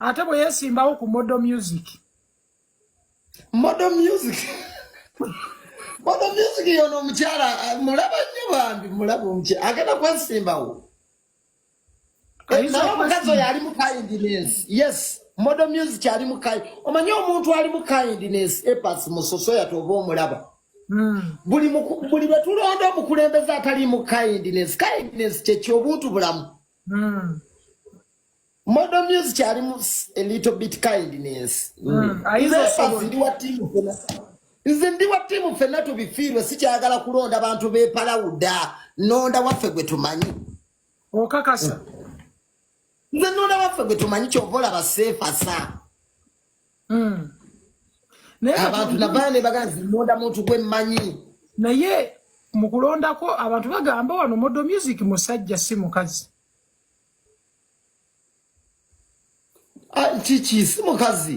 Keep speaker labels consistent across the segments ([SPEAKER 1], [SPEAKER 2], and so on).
[SPEAKER 1] ate bwe yesimbawo ku model music
[SPEAKER 2] model music model music yono omukyala eh, mulaba nnyo bambi mulaba omukyala agenda kwesimbawo naye omukazi oyo ali mu kindness yes model music ali mu kind omanyi omuntu ali mu kindness epas musoso yati oba omulaba hmm. buli buli bwe tulonda omukulembeze atali mu kindness kindness kyekyo obuntu bulamu hmm. Model music kyali mu a little bit kindness. Mm. Ayizo mm. sabo ndi wa team fena. Nze ndi wa team fena to be feel si kyagala kulonda abantu be pala uda. Nonda wafe gwe tumanyi. Okakasa. Mm. Nze nonda wafe gwe tumanyi chovola ba safe asa. Mm. Naye abantu nabaya ne baganzi nonda muntu gwe manyi. Naye
[SPEAKER 1] mukulondako abantu bagamba wano model music musajja si mukazi.
[SPEAKER 2] Ah, kiki si mukazi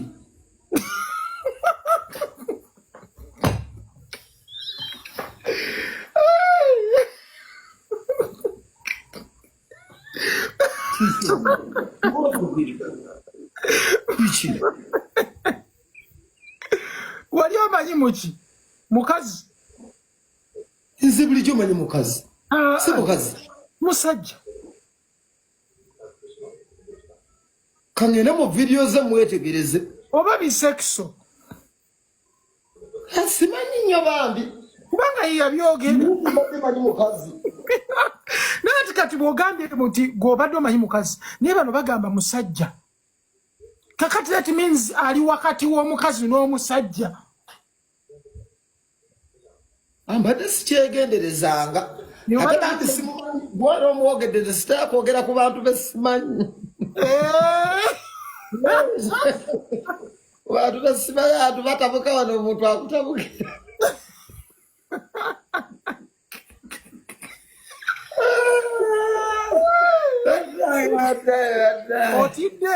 [SPEAKER 1] wali omanyi muki mukazi
[SPEAKER 2] nze bulijjo manyi mukazi ah, si mukazi musajja kangende mu vidiyo ze mwetegereze oba bisekiso
[SPEAKER 1] eh,
[SPEAKER 2] simanyi nnyo bambi kubanga
[SPEAKER 1] yeyabyogera naye ati kati bwogambye nti gwobadde omanyi mukazi naye bano bagamba musajja kakati that means ali wakati w'omukazi n'omusajja
[SPEAKER 2] ambadde sikyegenderezanga ate banti simumanyi gwali omwogedde nze sitera kwogera ku bantu be simanyi bantu be simanyi antu batabuka wano omuntu akutabukira
[SPEAKER 1] otidde